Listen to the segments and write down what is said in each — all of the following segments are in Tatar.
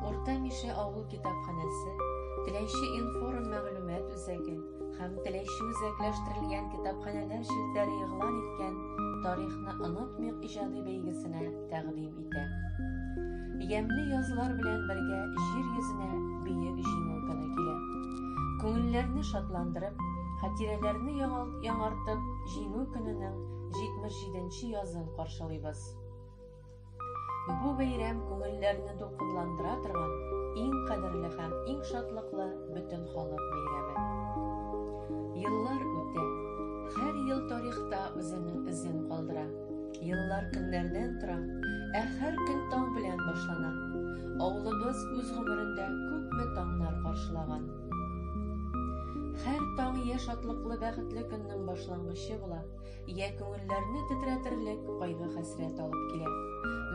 Урта Мишә авыл китапханәсе, Теләйче информ мәгълүмат үзәге һәм Теләйче үзәкләштерелгән китапханәләр челтәре игълан иткән Тарихны онытмыйк иҗади бәйгесенә тәкъдим итә. Ямьле язлар белән бергә җир йөзенә Бөек Җиңү көне килә. Күңелләрне шатландырып, хатирәләрне яңарт яңартып Җиңү көненең 77 нче язын каршылыйбыз. Бу бәйрәм күңелләрне дулкынландыра торган иң кадерле һәм иң шатлыклы бөтен халык бәйрәме. Еллар үтә, һәр ел тарихта үзенең эзен калдыра. Еллар көннәрдән тора, ә һәр көн таң белән башлана. Авылыбыз үз гомерендә күпме таңнар каршылаган. Һәр таң я шатлыклы бәхетле көннең башлангычы була, Йә күңелләрне тетрәтерлек кайгы-хәсрәт алып килә.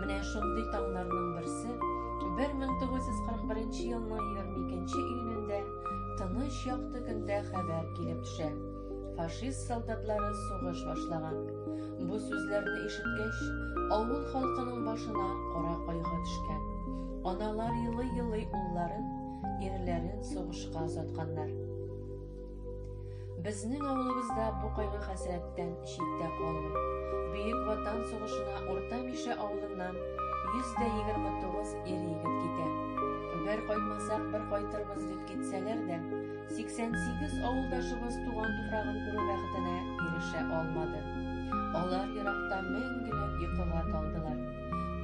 Менә шундый таңнарның берсе 1941 елның 22 июнендә тыныч якты көндә хәбәр килеп төшә. Фашист солдатлары сугыш башлаган. Бу сүзләрне ишеткәч, авыл халкының башына кара кайгы төшкән. Аналар елый-елый улларын, ирләрен сугышка озатканнар. Безнең авылыбызда бу кайгы-хәсрәттән читтә калмый. Бөек Ватан сугышына Урта Мишә авылыннан 129 ир-егет китә. Бер кайтмасак, бер кайтырбыз дип китсәләр дә, 88 авылдашыбыз туган туфрагын күрү бәхетенә ирешә алмады. Алар еракта мәңгелек йокыга талдылар.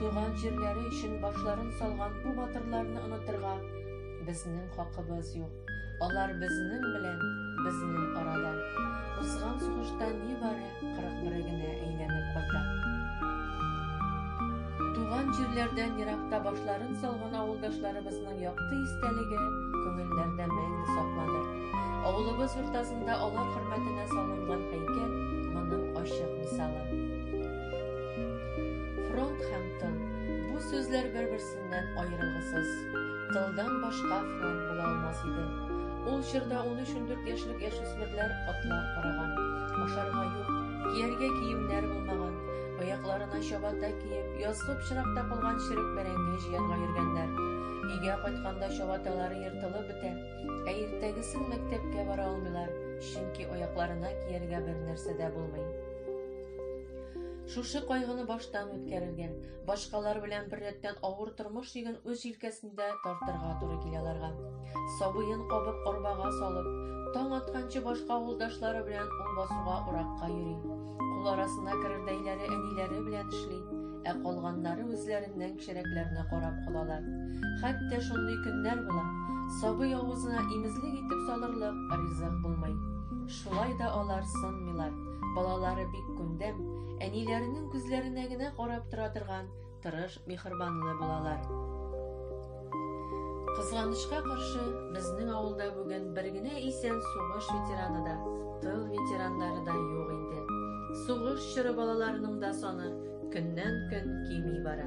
Туган җирләре өчен башларын салган бу батырларны онытырга безнең хакыбыз юк. Алар безнең белән безнең арада. Узган сугышта нибары 41 генә әйләнеп кайта. Туган җирләрдән еракта башларын салган авылдашларыбызның якты истәлеге күңелләрдә мәңге сакланыр. Авылыбыз уртасында алар хөрмәтенә салынган һәйкәл моның ачык мисалы. Фронт һәм тыл. Бу сүзләр бер-берсен Синнән аерылгысыз, тылдан башка фронт була алмас иде. Ул чорда 13-14 яшьлек яшүсмерләр атлар караган, ашарга юк, кияргә киемнәр булмаган, аякларына чабата киеп, язгы пычрак тапылган черек бәрәңге җыярга йөргәннәр. Өйгә кайтканда чабаталары ертылып бетә, ә иртәгесен мәктәпкә бара алмыйлар, чөнки аякларына кияргә бер нәрсә дә булмый. Шушы кайгыны баштан үткәрергә, Башкалар белән беррәттән авыр тормыш йөген үз җилкәсендә тартырга туры килә аларга. Сабыен кабып арбага салып, таң атканчы башка авылдашлары белән ул басуга уракка йөри. Кул арасына керердәйләре әниләре белән эшли, ә калганнары үзләреннән кечерәкләрне карап калалар. Хәтта шундый көннәр була, сабый авызына имезлек итеп салырлык ризык булмый. Шулай да алар сынмыйлар, балалары бик күндәм, әниләренең күзләренә генә карап тора торган тырыш михырбанлы булалар кызганычка каршы безнең авылда бүген бер генә исән сугыш ветераны да тыл ветераннары да юк инде сугыш чоры балаларының да саны көннән көн кими бара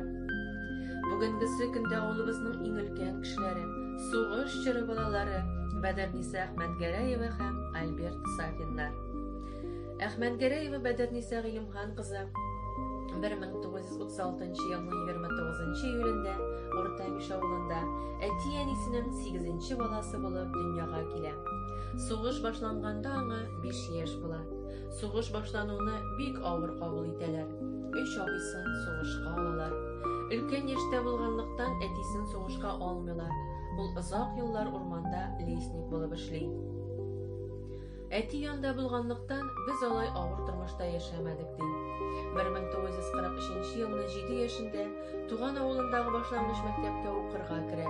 бүгенгесе көндә авылыбызның иң өлкән кешеләре сугыш чоры балалары бәдәрниса әхмәтгәрәева һәм альберт сафиннар Әхмәнгәрәева Бәдерниса Гыйлемхан кызы 1936 елның 29 июлендә Урта Миш авылында әти-әнисенең 8 баласы булып дөньяга килә. Сугыш башланганда аңа 5 яшь була. Сугыш башлануны бик авыр кабул итәләр. Өч абыйсын сугышка алалар. Өлкән яшьтә булганлыктан әтисен сугышка алмыйлар. Ул озак еллар урманда лесник булып эшли. Әти янда булганлыктан, без алай авыр тормышта яшәмәдек, ди. 1943 елны 7 яшендә туган авылындагы башлангыч мәктәпкә укырга керә.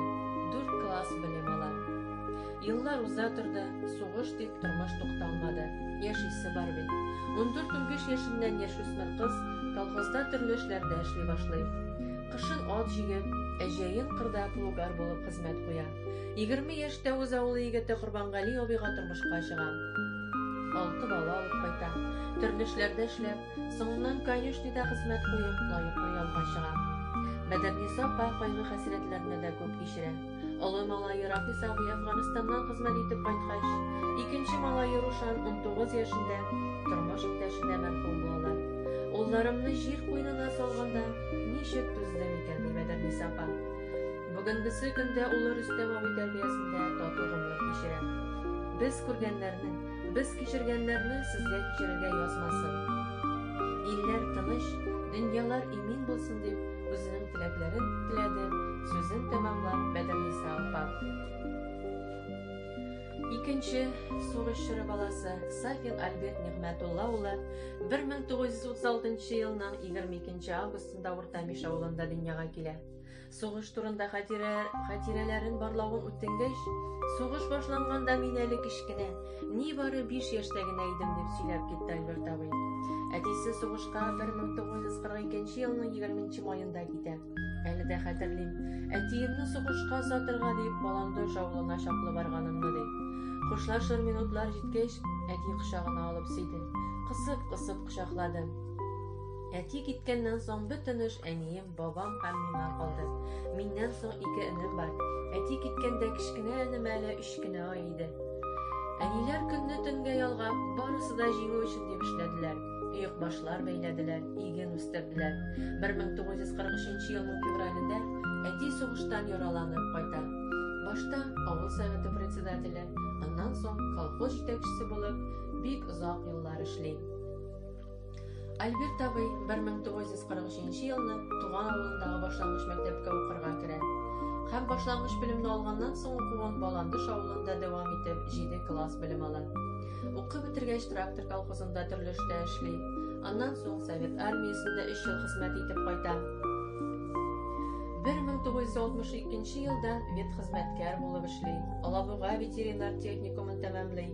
4 класс белем ала. Еллар уза торды, сугыш дип тормыш тукталмады. Яшисе бар бит. 14-15 яшеннән яшүсмер кыз колхозда төрле эшләрдә эшли башлый. Кышын ат җигеп, ә җәен кырда плугар булып хезмәт куя. Егерме яшьтә үз авылы егете Корбангали абыйга тормышка чыга. Алты бала алып кайта. Төрле эшләрдә эшләп, соңыннан конюшнида хезмәт куеп, лаеклы ялга чыга. Бәдерниса апа кайгы-хәсрәтләрне дә күп кичерә. Олы малае Рафис абый Әфганстаннан хезмәт итеп кайткач, икенче малае Рушан 19 яшендә тормыш иптәше дә мәрхүм була. Улларымны җир куенына салганда, ничек түздем икән, ди Бәдерниса апа. Бүгенгесе көндә улы Рөстәм абый тәрбиясендә тату гомер кичерә. Без күргәннәрне, без кичергәннәрне сезгә кичерергә язмасын. Илләр тыныч, дөньялар имин булсын дип, үзенең теләкләрен теләде, сүзен тәмамлап Мәдәниса апа. Икенче сугыш чоры баласы Сафин Альберт Нигъмәтулла улы 1936 елның 22 августында Урта Миш авылында дөньяга килә. Сугыш турында хатирә, хатирәләрен барлавын үтенгәч, сугыш башланганда мин әле кечкенә, нибары 5 яшьтә генә идем дип сөйләп китте Альберт абый. Әтисе сугышка 1942 елның 20 маенда китә. Әле дә хәтерлим. Әтиемне сугышка сатырга дип Баландош авылына чаклы барганымны ди. Хушлашыр минутлар җиткәч, әти кочагына алып сиде. Кысып-кысып кочаклады. Әти киткәннән соң бөтенеш әнием Бабам һәм миңа калды. Миннән соң ике энем бар. Әти киткәндә кечкенә энем әле өч кенә ай иде. Әниләр көнне төнгә ялгап, барысы да җиңү өчен дип эшләделәр. Өйекбашлар бәйләделәр, иген үстерделәр. 1943 елның февралендә әти сугыштан яраланып кайта. Башта авыл советы председателе, аннан соң колхоз җитәкчесе булып, бик озак еллар эшли. Альберт абый 1943 елны туган авылындагы башлангыч мәктәпкә укырга керә. Һәм башлангыч белемне алганнан соң укуын Баландыш авылында дәвам итеп 7 класс белем ала. Укып бетергәч трактор колхозында төрле эштә эшли. Аннан соң Совет армиясендә 3 ел хезмәт итеп кайта. 1962 елдан ветхезмәткәр булып эшли. Алабуга ветеринар техникумын тәмамлый.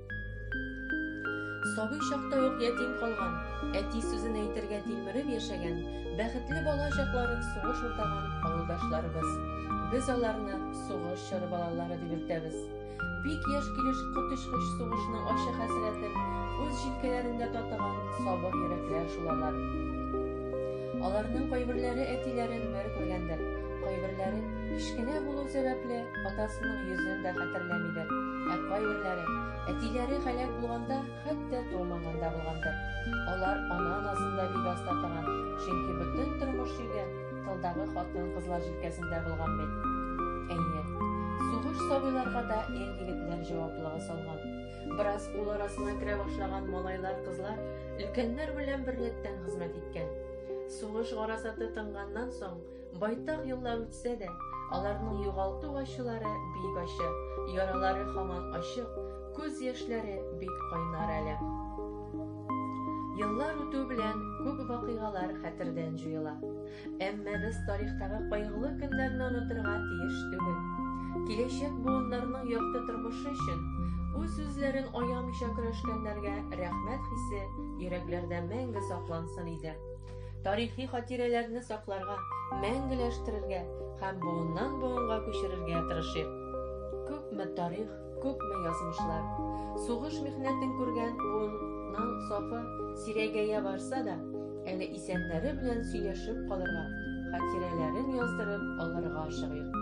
Сабый чакта ук ятим калган, әти сүзен әйтергә тилмереп яшәгән, бәхетле бала чакларын сугыш уртаган авылдашларыбыз. Без аларны сугыш чоры балалары дип йөртәбез. Бик яшь килеш коточкыч сугышның ачы хәсрәтен үз җилкәләрендә татыган сабыр йөрәкләр шул алар. Аларның кайберләре әтиләрен бер күргәндер, кайберләре кечкенә булу сәбәпле Атасының йөзен дә хәтерләмидер. Ә кайберләре әтиләре һәлак булганда, хәтта тумаганда булгандыр. Алар ана назында бик аз татыган, чөнки бөтен тормыш йөге тылдагы хатын-кызлар җилкәсендә булган бит. Әйе, сугыш сабыйларга да ир-егетләр җаваплыгы салган. Бераз ул арасына керә башлаган малайлар-кызлар өлкәннәр белән берлектән хезмәт иткән. Сугыш гарасаты тынганнан соң, Байтак еллар үтсә дә, аларның югалту ачылары бик ачы, яралары хаман ачык, күз яшьләре бик кайнар әле. Еллар үтү белән күп вакыйгалар хәтердән җуела. Әмма без тарихтагы кайгылы көннәрне онытырга тиеш түгел. Киләчәк буыннарның якты тормышы өчен үз үзләрен аямыйча көрәшкәннәргә рәхмәт хисе йөрәкләрдә мәңге саклансын иде. тарихи хатирәләрне сакларга, мәңгеләштерергә һәм буыннан буынга күчерергә тырышыйк. Күпме тарих, күпме язмышлар. Сугыш михнәтен күргән буынның сафы сирәгәя барса да, әле исәннәре белән сөйләшеп калырга, хатирәләрен яздырып алырга ашыгыйк.